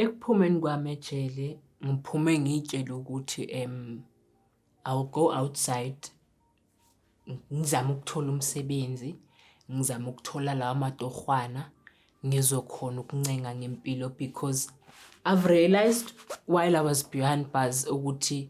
Ekuphumeni kwami ejele ngiphume ngiy'tshele ukuthi I will go outside ngizame ukuthola umsebenzi, ngizame ukuthola lawa matorhwana ngizokhona ukuncenga ngempilo because I've realised while I was behind bars ukuthi.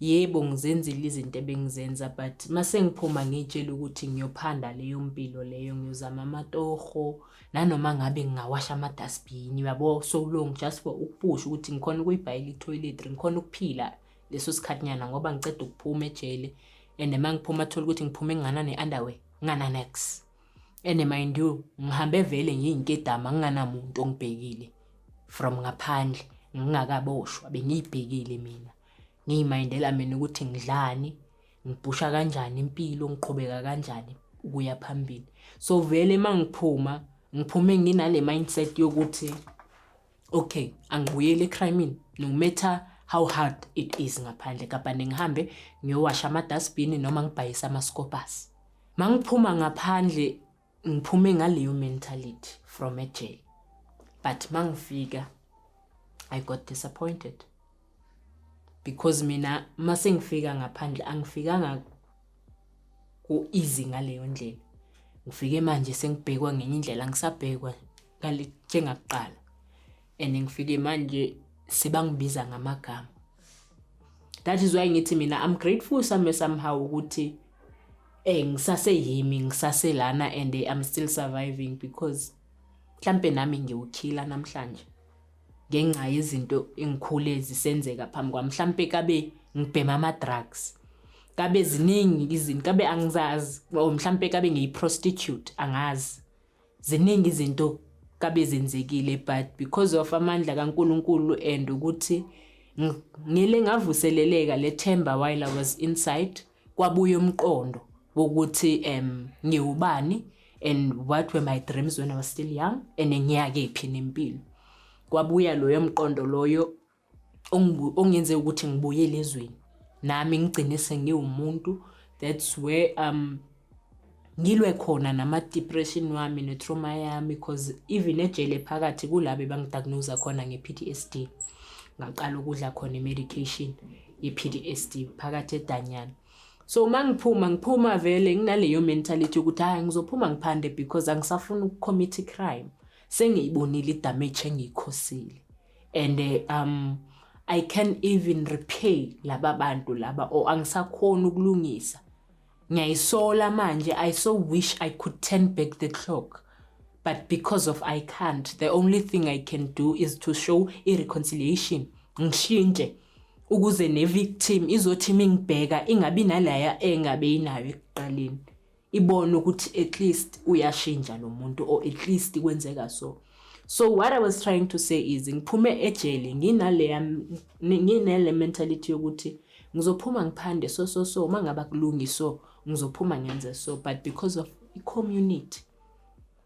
Yebo ngizenzile izinto ebengizenza but masengiphuma ngiyitshela ukuthi ngiyophanda leyo mpilo leyo ngiyozama amatoho nanoma ngabe ngingawasha ama-dustbin uyabo so long just for ukupusha ukuthi ngikhona ukuyibhayela i-toiletry ngikhona ukuphila leso sikhathinyana ngoba ngiceda ukuphuma ejele and uma ngiphuma athole ukuthi ngiphume ngingana ne-underwear ngingana-nax and mind you ngihambe vele ngiyinkedama nginganamuntu ongibhekile from ngaphandle ngingakaboshwa bengiyibhekile mina Ngiyimindela mina ukuthi ngidlani, ngibhusha kanjani impilo, ngiqhubeka kanjani ukuya phambili. So vele uma ngiphuma, ngiphume nginale mindset yokuthi okay, angibuyeli ecrime-ini no matter how hard it is ngaphandle kabhane ngihambe ngiyowasha amadustbin noma ngibhayise amascopers. Mangiphuma ngaphandle ngiphume ngaleyo mentality from a jail but mangifika i got disappointed because mina mase ngifika ngaphandle angifikanga ku easy ngaleyo ndlela ngifike manje sengibhekwa ngenye indlela ngisabhekwa ngale njengakuqala and ngifike manje sebangibiza ngamagama that is why ngithi mina i'm grateful some somehow ukuthi eh ngisase yimi ngisase lana and i'm still surviving because mhlambe nami ngiwukhila namhlanje ngenxa yezinto engikhule zisenzeka phambi kwami mhlambe kabe ngibhema ama drugs kabe ziningi izinto kabe angizazi or mhlambe kabe ngiyi prostitute angazi Ziningi izinto kabe zenzekile but because of amandla kaNkulunkulu and ukuthi ngile ngavuseleleka lethemba while I was inside kwabuya umqondo wokuthi um ngiwubani and what were my dreams when I was still young and ngiyakephi nempilo kwabuya loyo mqondo loyo ongenze ukuthi ngibuyele ezweni nami ngigcine sengiwumuntu that's where um ngilwe khona nama-depression wami ne-trauma yami because even ejele phakathi kulabe bangidiagnosa khona nge-p t s d ngaqala ukudla khona i-medication ye-p t s d phakathi edanyana so uma ngiphuma ngiphuma vele nginaleyo mentality yokuthi hhayi ngizophuma ngiphande because angisafuni ukukhomitha i-crime sengiyibonile idamage engiyikhosile and eh, um i can even repay laba bantu laba or angisakhona ukulungisa ngiyayisola manje i so wish i could turn back the clock but because of i can't the only thing i can do is to show i-reconciliation ngishintshe ukuze ne-victim izothi mingibheka ingabi nalaya engabe inayo ekuqaleni ibone ukuthi at least uyashintsha lo muntu or at least kwenzeka so so what i was trying to say is ngiphume ejele nginaleya nginele mentality yokuthi ngizophuma ngiphande so so so uma ngabe akulungi so ngizophuma ngenze so but because of i-community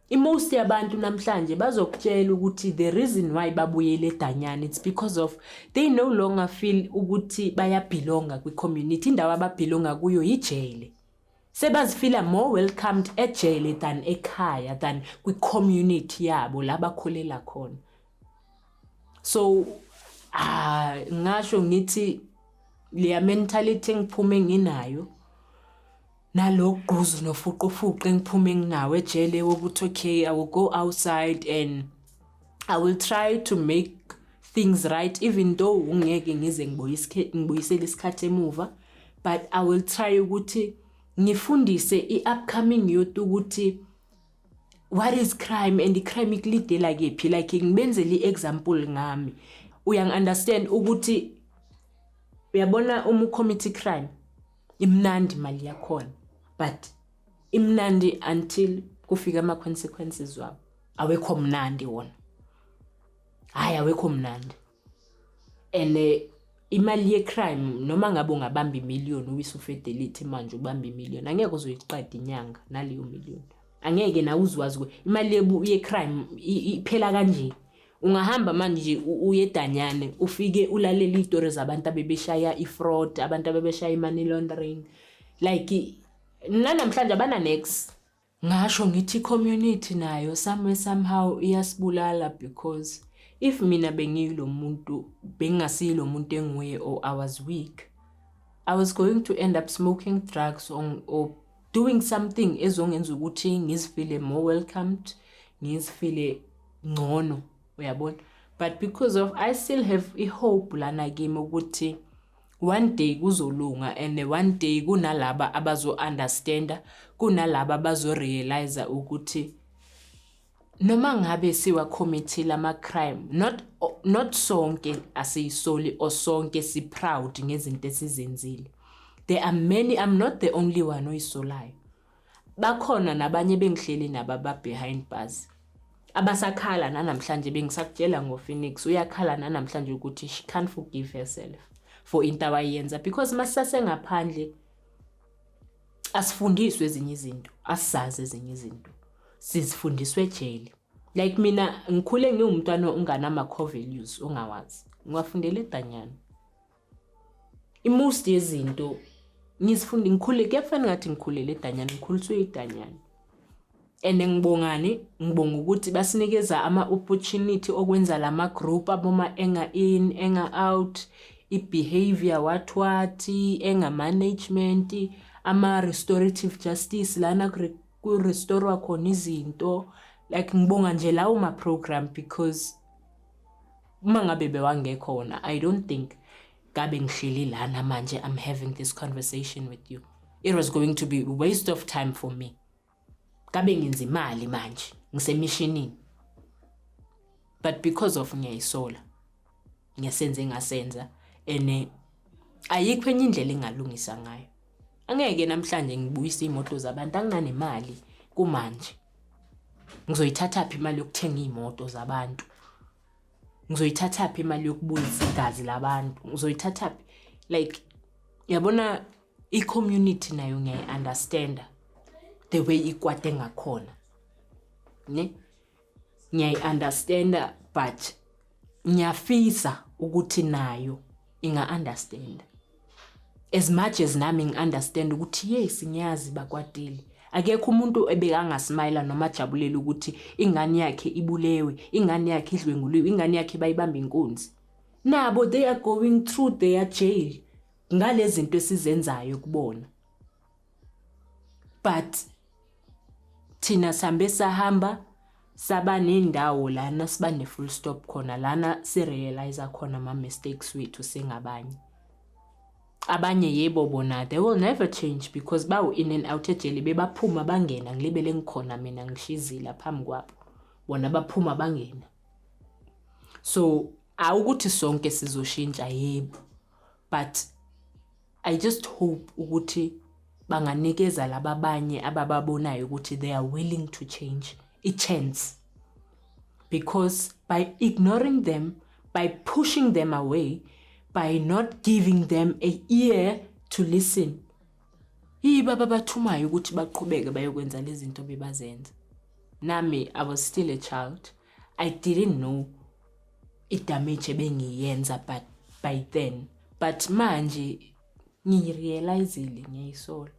imost yabantu namhlanje bazokutshela ukuthi the reason why babuyele edanyana it's because of they no longer feel ukuthi bayabhilonga kwi-community indawo ababhilonga kuyo yijele Sebazifila more welcomed ejele than ekhaya than kwi community yabo la bakhulela khona. So ah ngasho ngithi leya mentality engiphume nginayo nalogquzu nofuqufuqu engiphume nginawo ejele wokuthi okay I will go outside and i will try to make things right even though ungeke ngize ngibuyisele isikhathi emuva but i will try ukuthi ngifundise i-upcoming youth ukuthi what is crime and i-crime ikulidela kephi like ngibenzele i-example ngami uyangi-understand ukuthi uyabona uma ucommittee crime imnandi imali yakhona but imnandi until kufika ama-consequences wabo awekho mnandi wona hayi awekho mnandi and eh, imali yecrime noma ngabe ungabamba imillion uwisa ufidelity manje ubamba imillion angeke uzoyiqeda inyanga naleyo million angeke nawe uzwazi imali yecrime iphela kanje ungahamba manje uyedanyane ufike ulalele izitori zabantu abebeshaya ifraud abantu abebeshaya i-money laundering like nanamhlanje abana-nex Ngasho ngithi community nayo somewhere somehow iyasibulala because if mina bengiyilo muntu bengingasiyilo muntu enguye or I was weak I was going to end up smoking drugs or, or doing something ezongenza ukuthi ngizifile more welcomed ngizifile ngcono uyabona but because of I still have i hope lana kimi ukuthi One day kuzolunga and one day kunalaba abazo understanda kunalaba abazo realize ukuthi noma ngabe siwa committee ama crime not not sonke asiyisoli or sonke si proud ngezinto esizenzile there are many i'm not the only one oyisolayo Bakhona nabanye bengihleli nabo ababehind bars abasakhala nanamhlanje bengisakutshela ngoPhoenix uyakhala nanamhlanje ukuthi she can't forgive herself for into awayenza because masisasengaphandle asifundiswe ezinye izinto asizazi ezinye izinto sizifundiswe ejele like mina ngikhule ngiwumntwana onganama-core values ongawazi ngiwafundela edanyana Imost yezinto ngizifunda ngikhule kuyafana ngathi ngikhulele edanyana ngikhuliswe idanyana and ngibongani ngibonga ukuthi basinikeza ama-opportunity okwenza la ma-group aboma enga-in enga-out i-behavior what what enga-management ama-restorative justice lana ku-restorwa khona izinto like ngibonga nje lawo ma-program because Uma ngabe bewangekho wona, I don't think ngabe ngihleli lana manje I'm having this conversation with you. It was going to be a waste of time for me. Ngabe ngenza imali manje, ngisemishinini. But because of ngiyayisola. Ngiyasenze ngasenza ene ayikho enye indlela engalungisa ngayo. Angeke namhlanje ngibuyise imoto zabantu anginanemali kumanje. Ngizoyithatha phi imali yokuthenga imoto zabantu? ngizoyithathaphi imali yokubuyisa igazi labantu ngizoyithathaphi like yabona i-community nayo ngiyayi-understanda the way ikwate ngakhona ne ngiyayi-understanda but ngiyafisa ukuthi nayo inga understand as much as nami ngi understand ukuthi yes ngiyazi bakwatile akekho umuntu ebekangasmayila noma ajabulela ukuthi ingane yakhe ibulewe ingane yakhe idlwenguliwe ingane yakhe bayibamba inkunzi nabo they are going through their jail ngalezinto esizenzayo kubona but thina sihambe sahamba saba nendawo lana siba ne-full stop khona lana si-realize khona ama-mistakes wethu singabanye abanye yebo bona they will never change because bawu-in and out ejele bebaphuma bangena ngilibele ngikhona mina ngishizila phambi kwabo bona baphuma bangena so awukuthi sonke sizoshintsha yebo but I just hope ukuthi banganikeza laba abanye abababonayo ukuthi they are willing to change a chance because by ignoring them by pushing them away by not giving them a ear to listen yiba babathumayo ukuthi baqhubeke bayokwenza lezi zinto bebazenza nami i was still a child i didn't know idamage ebengiyenza but by then but manje ngirealizile ngiyayisolo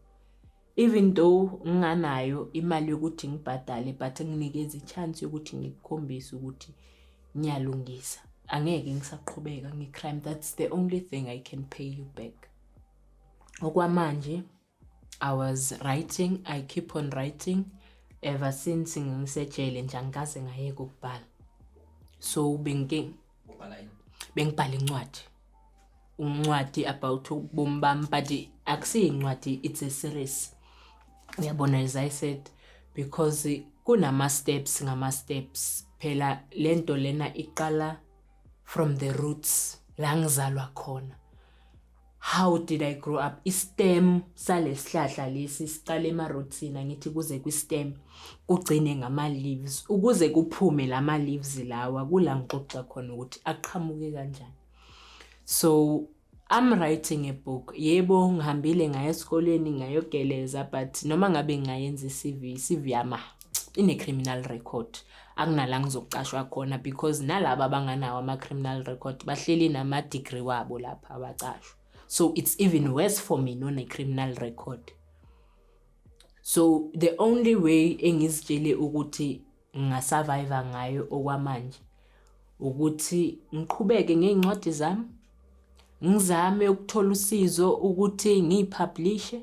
even though nginganayo imali yokuthi ngibhadale but nginikeza ichance yokuthi ngikukhombise ukuthi ngiyalungisa angeke ngisaqhubeka ngecrime that's the only thing i can pay you back okwamanje I was writing, I keep on writing ever since ngisejele nje angikaze ngayeka ukubhala. So bengike ubhala yini? Bengibhala incwadi. Uncwadi about ubomi bami but akusiyincwadi it's a series. Uyabona as I said because kunama steps ngama steps phela lento lena iqala from the roots la ngizalwa khona how did i grow up istem salesihlahla lesi siqale emarootsini angithi kuze kwistem kugcine ngama-leaves ukuze kuphume lama-leaves lawa kula ngixoxa khona ukuthi aqhamuke kanjani so I'm writing a book. Yebo ngihambile ngaya esikoleni ngayogeleza but noma ngabe ngayenza iCV, iCV yama ine criminal record. Akunala ngizoqashwa khona because nalabo abanganawo ama criminal record bahleli nama degree wabo lapha abaqashwa. So it's even worse for me none criminal record. So the only way engizitshele ukuthi ngingasurvive ngayo okwamanje ukuthi ngiqhubeke ngey'ncwadi zami ngizame ukuthola usizo ukuthi ngiyiphablishe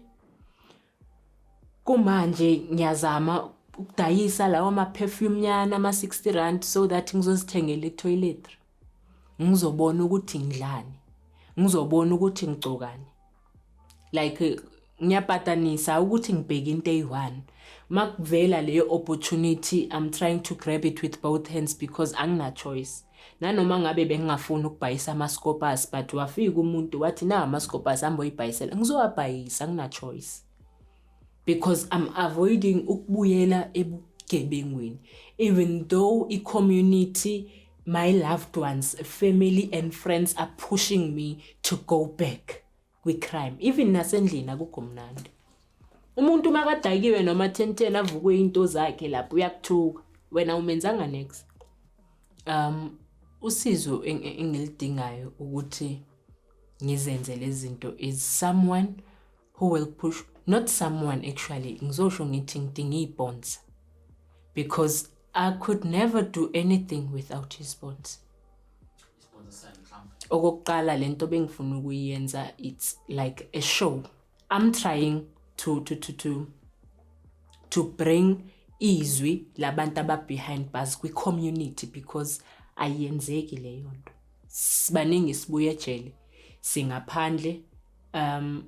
kumanje ngiyazama ukudayisa lawo ma-perfume nyana ama-60 rand so that ngizozithengela itoiletry ngizobona ukuthi ngidlani ngizobona ukuthi ngigcokani like ngiyapatanisa ukuthi ngibheke into eyi-one uma kuvela leyo opportunity i'm trying to grab it with both hands because angina-choice nanoma ngabe bengingafuni ukubhayisa ama-scopers but wafika umuntu wathi na ama-scopers hambe oyibhayisela ngizowabhayisa angina-choice because I'm avoiding ukubuyela ebugebengwini even though i-community my loved ones family and friends are pushing me to go back kwi-crime even nasendlini akugomnandi umuntu uma kadakiwe noma thenteni avukwe into zakhe lapho uyakuthuka wena umenzanga next um usizo engilidingayo ukuthi ngizenze lezi zinto is someone who will push not someone actually ngizosho ngithi ngidinga iy'bonds because i could never do anything without his bonds okokuqala le nto bengifuna ukuyenza it's like a show i'm trying to, to, to, to, to bring izwi labantu ababehind bars kwi-community because ayenzeki leyo nto sibaningi sibuye ejele singaphandle um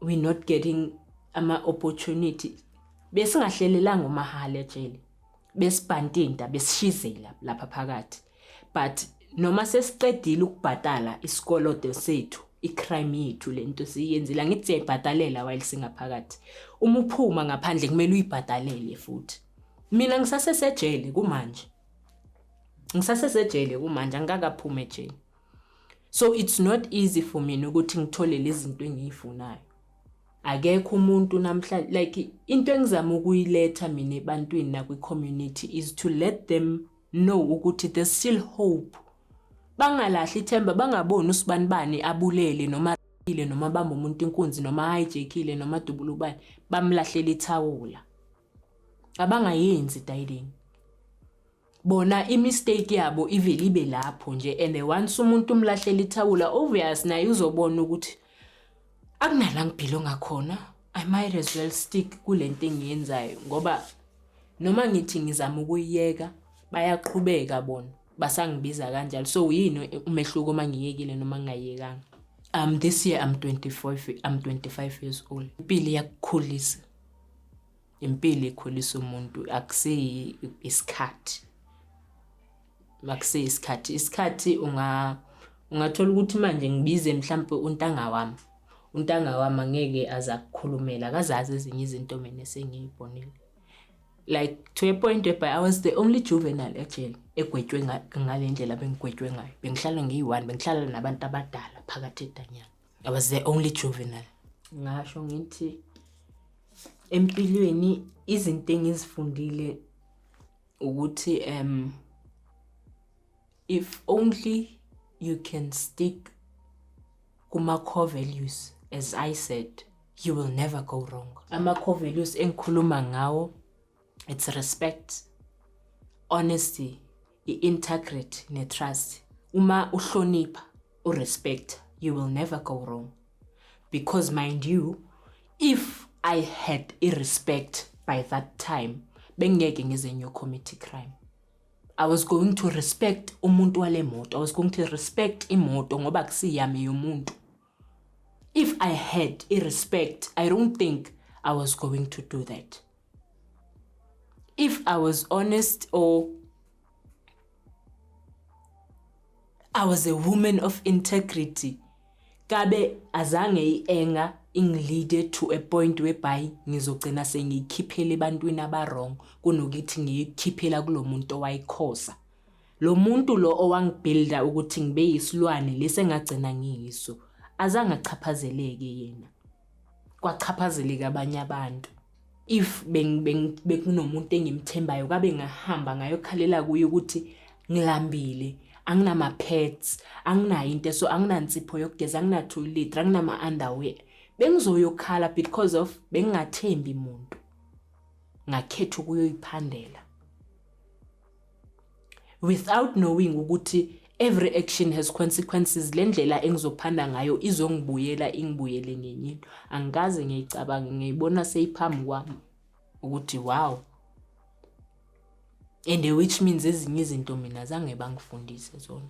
we not getting ama opportunity besingahlelelanga umahale ejele besibhantinta besishizela lapha phakathi but noma sesiqedile ukubhatala isikoloto sethu icrime yethu lento siyenzile angithi siyayibhadalela while singaphakathi uma uphuma ngaphandle kumele uyibhadalele futhi mina ngisasesejele kumanje ngisasesejele kumanje angikakaphumi ejele So it's not easy for mina ukuthi ngithole lezinto engiyifunayo. Akekho umuntu namhla like into engizama ukuyiletha mina ebantwini na kwi community is to let them know ukuthi there's still hope. Bangalahli ithemba bangaboni usibani bani abulele noma ile noma bamba umuntu inkunzi noma hijackile noma dubulubani bamlahlela ithawula. abangayenzi dayileni bona imistake yabo ivele ibe lapho nje and once umuntu umlahlela ithawula obvious naye uzobona ukuthi akunala ngibhilo ngakhona i might as well stick kule nto engiyenzayo ngoba noma ngithi ngizama ukuyiyeka bayaqhubeka bona basangibiza kanjalo so yini umehluko uma ngiyekile noma ngingayekanga um this year i'm 25 i'm 25 years old impilo iyakukhulisa impilo ikhulisa umuntu akusiyi isikhathi makusiyi isikhathi isikhathi unga ungathola ukuthi manje ngibize mhlampe untanga wami untanga wami angeke aza kukhulumela akazazi ezinye izinto mina esengiyibonile like to a point whereby I was the only juvenile ejele egwetshwe ngale ndlela bengigwetshwe ngayo bengihlala ngiyi-one bengihlala nabantu abadala phakathi edanyana I was the only juvenile. Ngasho ngithi empilweni izinto engizifundile ukuthi um if only you can stick kuma core values as I said you will never go wrong. Ama core values engikhuluma ngawo it's respect honesty i-integrity ne-trust uma uhlonipha urespect you will never go wrong because mind you if i had irespect by that time bengeke ngize ngiyocommit crime I was going to respect umuntu wale moto. I was going to respect imoto ngoba kusiyami yomuntu. If I had a respect, I don't think I was going to do that. If I was honest or I was a woman of integrity, kabe azange ienga ingilide to a point whereby ngizogcina sengiyikhiphela ebantwini abawrong kunokuthi ngiyikhiphela kulo muntu owayikhosa Lo muntu lo owangibhilda ukuthi ngibe yisilwane lesi engagcina ngiyiso, azange achaphazeleke yena. Kwachaphazeleka abanye abantu. If bekunomuntu engimthembayo kabe ngahamba ngayokhalela kuye ukuthi ngilambile, anginama-pads, anginayo into so anginansipho yokugeza, anginathoyiletri, anginama-underwear. Bengizoyokhala because of bengingathembi muntu, ngakhetha ukuyoyiphandela. without knowing ukuthi every action has consequences le ndlela engizophanda ngayo izongibuyela ingibuyele ngenye into angikaze ngiyicabange ngiyibona seyiphambi kwami ukuthi wow and which means ezinye izinto mina zange bangifundise zona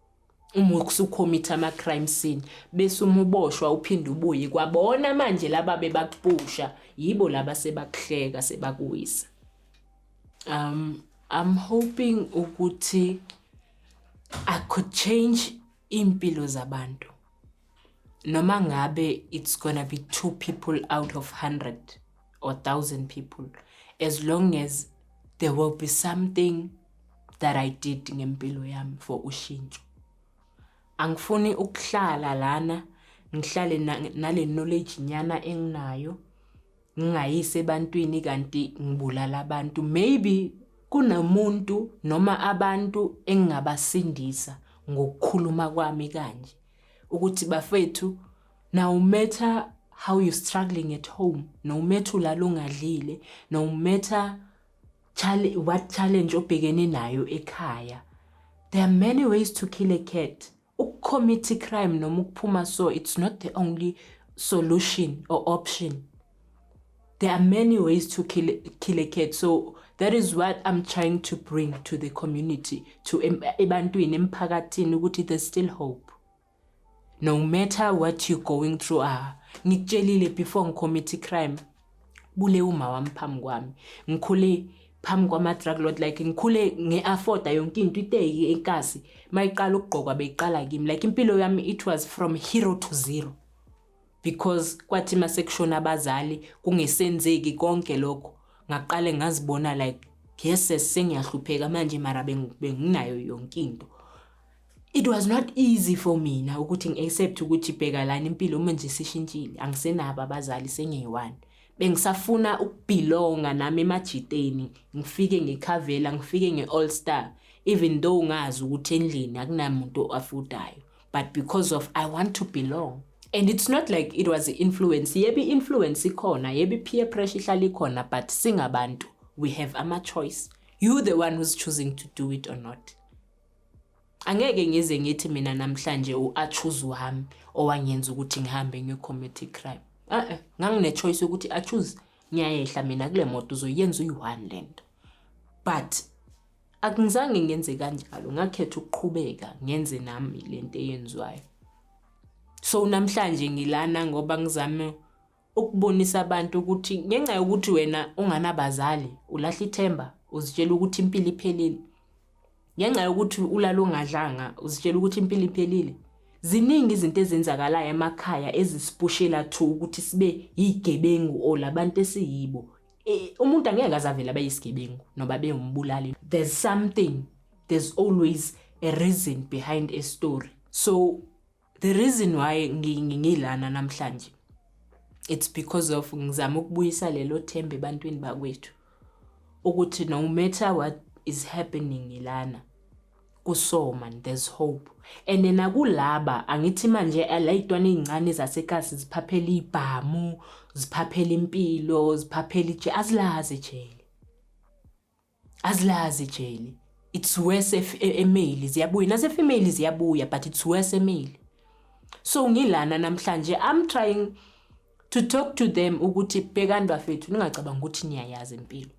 Uma usukhommitha ama crime scene bese uma uboshwa uphinde ubuye kwabona manje laba bebakupusha yibo laba sebakuhleka sebakuwisa. Um I'm hoping ukuthi I could change impilo zabantu. noma ngabe it's gonna be two people out of 100 or 1000 people as long as there will be something that I did ngempilo yami for ushintsho angifuni ukuhlala lana ngihlale nale knowledge nyana enginayo ngingayise ebantwini kanti ngibulala abantu maybe kunomuntu noma abantu engingabasindisa ngokukhuluma kwami kanje ukuthi bafethu now matter how you struggling at home no matter ulala ungadlile no matter challenge what challenge obhekene nayo ekhaya there are many ways to kill a cat ukucommit crime noma ukuphuma so it's not the only solution or option There are many ways to kill, kill a cat. So that is what I'm trying to bring to the community, to ebantwini, emphakathini, ukuthi there's still hope. No matter what you're going through, ah, ngikutshelile before ngicommit crime, bule uma wami phambi kwami. Ngikhule phambi kwama-drug lord like ngikhule ngi-afforda yonke into iteki enkasi uma iqala ukugqokwa beyiqala kimi like impilo yami it was from hero to zero because kwathi masekushona abazali kungesenzeki konke lokho ngaqale ngazibona like yes sengiyahlupheka manje mara benginayo yonke into it was not easy for mina ukuthi ngi-accept ukuthi bheka lana impilo uma nje sishintshile angisenabo abazali sengiyi-one bengisafuna ukubhilonga nami emajiteni ngifike ngikhavela ngifike nge-all star even though ngazi ukuthi endlini akunamuntu oafudayo but because of I want to belong. And it's not like it was influence. Yebi influence ikhona, yebi peer pressure ihlala ikhona, but singabantu, we have ama choice. You the one who's choosing to do it or not. Angeke ngize ngithi mina namhlanje u a choose wami owangenza ukuthi ngihambe ngiyo commit crime. Eh eh, ngangine choice yokuthi a choose ngiyayehla mina kule moto uzoyenza uyi-one lento. But Akungizange ngenze kanjalo, ngakhetha ukuqhubeka ngenze nami le nto eyenziwayo. So namhlanje ngilana ngoba ngizame ukubonisa abantu ukuthi ngenxa yokuthi wena unganabazali ulahla ithemba uzitshela ukuthi impilo iphelile. Ngenxa yokuthi ulala ungadlanga uzitshela ukuthi impilo iphelile. Ziningi izinto ezenzakalayo emakhaya ezisipushela to ukuthi sibe yigebengu or labantu esiyibo. Eh, umuntu angeke azavela bayisigebengu noba bewumbulali there's something there's always a reason behind a story so the reason why ngilana namhlanje it's because of ngizama ukubuyisa lelo themba ebantwini bakwethu ukuthi no matter what is happening ngilana kusoman there's hope and nakulaba angithi manje layitwana ezincane zasekasi ziphaphela ibhamu ziphaphela impilo ziphaphela ije azilazi ijele azilazi ijele it's worse if e, email ziyabuya nase female ziyabuya but it's worse email so ngilana namhlanje i'm trying to talk to them ukuthi bhekani bafethu ningacabanga ukuthi niyayazi impilo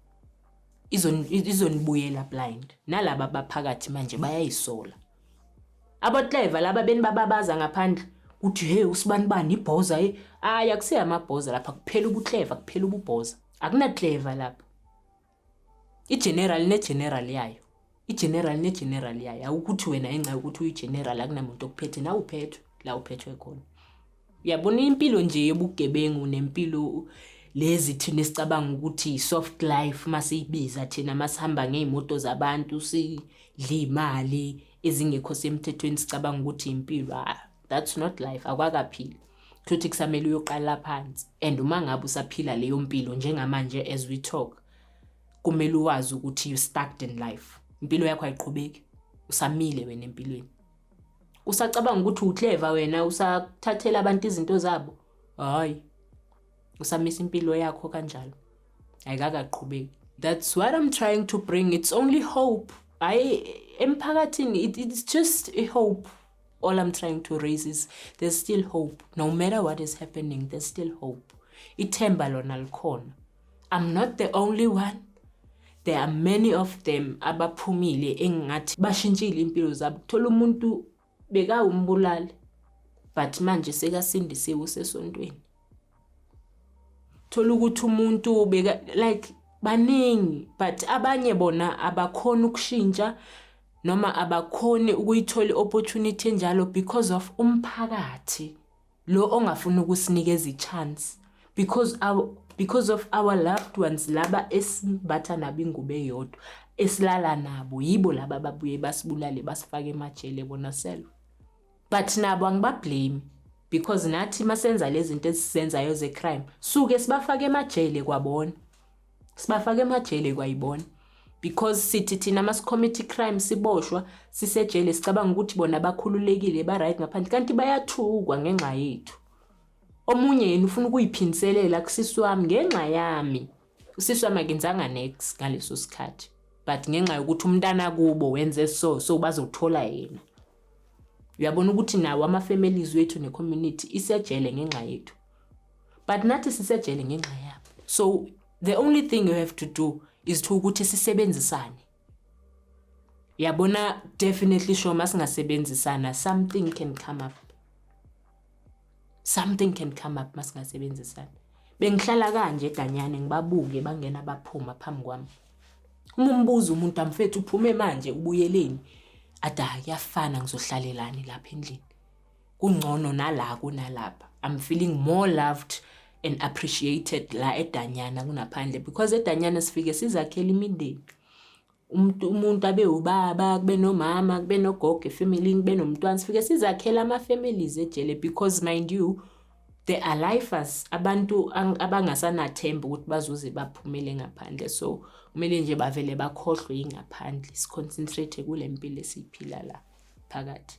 izonibuyela blind nalaba abaphakathi manje bayayisola abotliver laba benibababaza ngaphandle kuthi hey usibanibani ibhoza eh hayi akusiye amabhoza lapha kuphela ubuclever kuphela ububhoza akunaclever lapha igeneral negeneral yayo igeneral negeneral yayo awukuthi wena enxa yokuthi uyigeneral akunamuntu okuphethe nawe uphethwe la uphethwe khona uyabona impilo nje yobugebengu nempilo lezi thina esicabanga ukuthi soft life masiyibiza thina masihamba ngezimoto zabantu sidla imali ezingekho semthethweni sicabanga ukuthi impilo ah, that's not life akwakaphili futhi kusamele uyoqala phansi and uma ngabe usaphila leyo mpilo njengamanje as we talk kumele uwazi ukuthi you stuck in life impilo yakho ayiqhubeki usamile wena empilweni usacabanga ukuthi uclever wena usathathela abantu izinto zabo hayi usamisa impilo yakho kanjalo ayikakaqhubeki that's what i'm trying to bring it's only hope hayi emphakathini it, it's just a hope all i'm trying to raise is there's still hope no matter what is happening there's still hope ithemba lona likhona I'm not the only one there are many of them abaphumile engingathi bashintshile impilo zabo thola umuntu bekawumbulali but manje sekasindisiwe usesontweni thola ukuthi umuntu beka like baningi but abanye bona abakhona ukushintsha noma abakhoni ukuyithola i-opportunity enjalo because of umphakathi Lo ongafuni ukusinikeza ichance because our because of our loved ones laba esimbatha nabo ingubo eyodwa esilala nabo yibo laba ababuye basibulale basifake emajele bona self but nabo angibablame because nathi masenza lezi zinto esizenzayo ze-crime suke sibafake emajele kwabona sibafaka emajele kwayibona because sithi thina masicommit crime siboshwa sisejele sicabanga ukuthi bona bakhululekile ba-right ngaphandle kanti bayathukwa ngenxa yethu omunye yena ufuna ukuyiphindiselela kusisi wami ngenxa yami usisi wami akenzanga nex ngaleso sikhathi but ngenxa yokuthi umntana kubo wenze so so bazothola yena uyabona ukuthi nawo ama-families wethu ne-community isejele ngenxa yethu but nathi sisejele ngenxa yabo so the only thing you have to do is to ukuthi sisebenzisane yabona definitely sure masingasebenzisana something can come up something can come up masingasebenzisana bengihlala kanje danyane ngibabuke bangena baphuma phambi kwami uma umbuza umuntu amfethu uphume manje ubuyeleni ada kuyafana ngizohlalelani lapha endlini kungcono nala kunalapha i'm feeling more loved and appreciated la edanyana kunaphandle because edanyana sifike sizakhela imindeni umuntu umuntu abe ubaba kube nomama kube nogogo efamily kube nomntwana sifike sizakhela ama families ejele because mind you they are lifers abantu abangasanathemba ukuthi bazoze baphumele ngaphandle so kumele nje bavele bakhohlwe ingaphandle siconcentrate kule mpilo esiyiphila la phakathi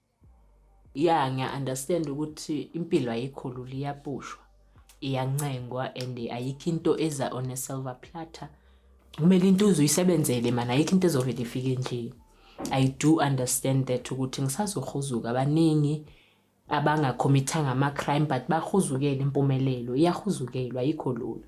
ya ngiya understand ukuthi impilo ayikho lula iyapushwa iyancengwa and ayikho into eza on a silver platter kumele into uzuyisebenzele mana ayikho into ezovele ifike nje i do understand that ukuthi ngisazohuzuka abaningi abangakhomithanga ama-crime but bahuzukele impumelelo iyahuzukelwa ayikho lula